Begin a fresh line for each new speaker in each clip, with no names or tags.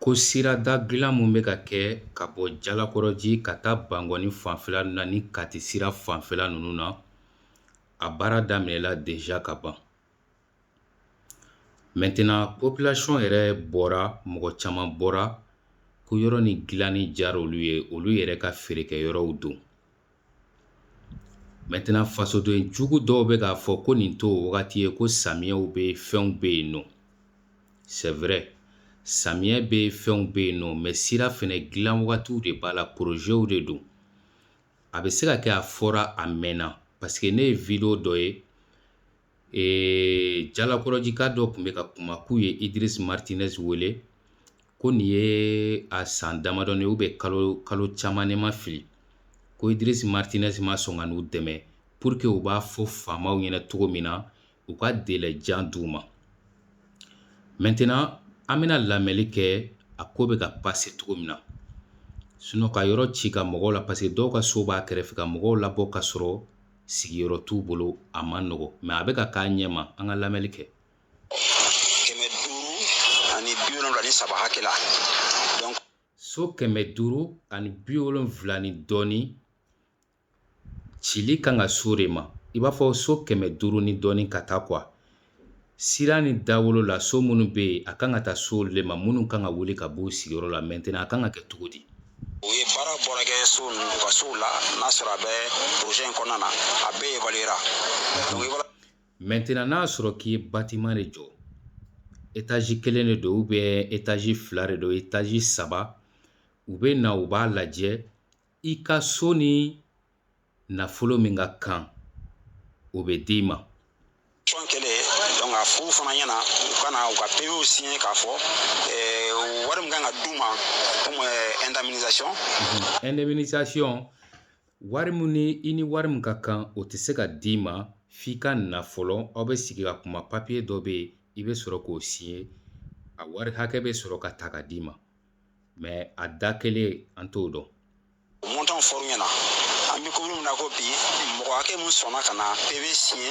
Ko sirada dilan min bɛ ka kɛ ka bɔ jalakɔrɔji ka taa bangɔni fanfɛla na ni Kati sira fanfɛla ninnu na, a baara daminɛla déjà ka ban. Maintenant population yɛrɛ bɔra, mɔgɔ caman bɔra ko yɔrɔ ni dilanni diyara olu ye, olu yɛrɛ ka feerekɛyɔrɔw don. maintenant fasodenjugu dɔw bɛ k'a fɔ ko nin t'o wagati ye ko samiyɛw bɛ fɛnw bɛ yen nɔ c'est vrai samiyɛ bɛ fɛnw bɛ yen nɔ mɛ sira fana dilan wagatiw de b'a la porozew de don a bɛ se ka kɛ a fɔra a mɛnna paseke ne ye video dɔ ye ee jalakɔrɔjika dɔ tun bɛ ka kuma k'u ye idris martinɛz wele ko nin ye a san damadɔni ou bien kalo kalo caman ne ma fili ko idris martinɛz ma sɔn ka n'u dɛmɛ pour que u b'a fɔ faamaw ɲɛna cogo min na u ka délai jan d'u ma maintenant an bɛna lamɛnli kɛ a ko bɛ ka passer cogo min na sinon ka yɔrɔ ci ka mɔgɔw la parce que dɔw ka so b'a kɛrɛfɛ ka mɔgɔw labɔ ka sɔrɔ sigiyɔrɔ t'u bolo a man nɔgɔn mɛ a bɛ ka k'a ɲɛma an ka lamɛnli kɛ kɛmɛ duuru
ani bi wolonwula ni saba hakɛ la so
kɛmɛ duuru ani bi wolonwula ni dɔɔni cili kan ka s'o de ma i b'a fɔ so kɛmɛ duuru ni dɔɔni ka taa quoi Sira ni dawolo la so minnu bɛ yen a kan ka taa s'o de ma minnu kan ka wuli ka b'u sigiyɔrɔ la mɛtɛnɛn a kan ka kɛ cogo di u ye baara
bɔra kɛ so ninnu ka sow la n'a sɔrɔ a bɛ projet in kɔnɔna na a bɛɛ evaluera
mɛtɛnɛn n'a sɔrɔ k'i ye batiman de jɔ etazi kelen de don ubiyɛn etazi fila de don etazi saba u bɛ na u b'a lajɛ i ka so ni nafolo min ka kan o bɛ d'i ma tɔn kɛlen
donc a f'u fana ɲɛna u ka na u ka pv siɲɛ k'a fɔ eh, wari min kan ka d'u ma comme eh, indemnisation mhm.
indemnisation wari min ni i ni wari min ka kan o tɛ se ka d'i ma f'i ka na fɔlɔ aw bɛ sigi ka kuma papiye dɔ bɛ yen i bɛ sɔrɔ k'o siɲɛ a wari hakɛ bɛ sɔrɔ ka ta ka d'i ma mɛ a da kelen an t'o dɔn mɔntan
fɔr'u ɲɛna an bɛ commune min na ko bi mɔgɔ hakɛ min sɔnna ka na pv siɲɛ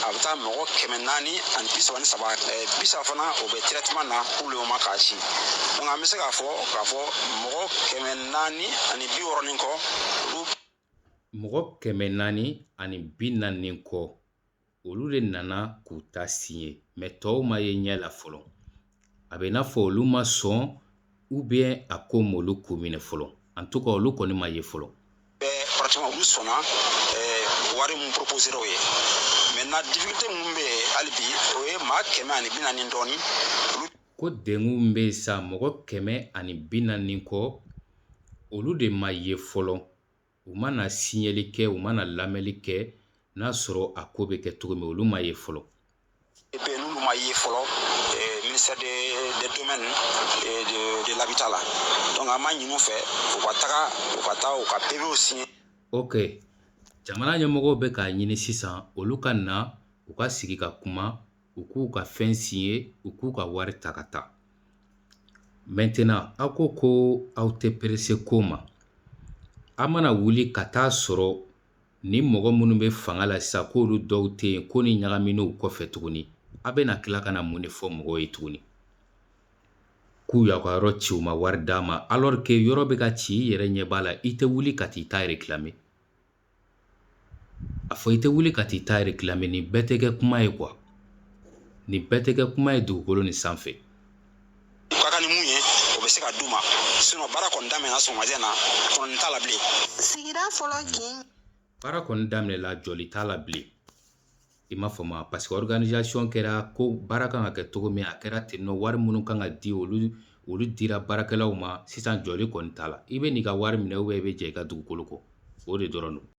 a bɛ taa mɔgɔ kɛmɛ naani ani bi saba ni saba bi saba fana o bɛ trɛtɛman na k'olu ma k'a si donc an bɛ se k'a fɔ k'a fɔ mɔgɔ kɛmɛ naani ani bi wɔɔrɔ ni kɔ olu mɔgɔ
kɛmɛ naani ani bi naani kɔ olu de nana k'u ta signé mais tɔw ma ye ɲɛ la fɔlɔ a bɛ n'a fɔ olu ma sɔn ou bien a ko m'olu ko minɛ fɔlɔ en tout cas olu kɔni ma ye fɔlɔ pratiquement olu
sɔnna wari min proposera o ye maintenant difficulté min bɛ hali bi o ye maa kɛmɛ ani bi naani dɔɔni ko
dengun min bɛ yen sa mɔgɔ kɛmɛ ani bi naani kɔ olu de ma ye fɔlɔ u mana signeli kɛ u mana lamɛnli kɛ n'a sɔrɔ a ko bɛ kɛ cogo min olu ma ye
fɔlɔ n'olu ma ye fɔlɔ eh, ministère des domaines et de l'habitat la donc an b'a ɲin'u fɛ u ka taga u ka taa u ka PV signé
ok jamana ɲɛmɔgɔw bɛ k'a ɲini sisan olu ka na u ka sigi ka kuma u k'u ka fɛn signé u k'u ka wari ta ka taa maintenant aw ko ko aw tɛ pressé ko ma a mana wuli ka t'a sɔrɔ ni mɔgɔ minnu bɛ fanga la sisan k'olu dɔw tɛ yen ko ni ɲagamina o kɔfɛ tuguni a bɛna tila ka na mun de fɔ mɔgɔw ye tuguni k'u y'aw ka yɔrɔ ci u ma wari d'a ma alors que yɔrɔ bɛ ka ci i yɛrɛ ɲɛ b'a la i tɛ wuli ka t'i ta réclamer A fɔ i tɛ wuli ka t'i ta réclamer nin bɛɛ tɛ kɛ kuma ye quoi nin bɛɛ tɛ kɛ kuma ye dugukolo nin sanfɛ
u ka kan ni min ye o bɛ se ka d'u ma sinon baara kɔni daminɛna sɔgɔmajɛ na kɔni t'a la bilen sigira fɔlɔ kin baara kɔni
daminɛla jɔli t'a la bilen i m'a faamu a parce que organisation kɛra ko baara kan ka kɛ cogo min a kɛra ten nɔ wari minnu kan ka di olu olu dira baarakɛlaw ma sisan jɔli kɔni t'a la i bɛ n'i ka wari minɛ ou bien i bɛ jɛn i ka dugukolo kɔ o de dɔrɔn don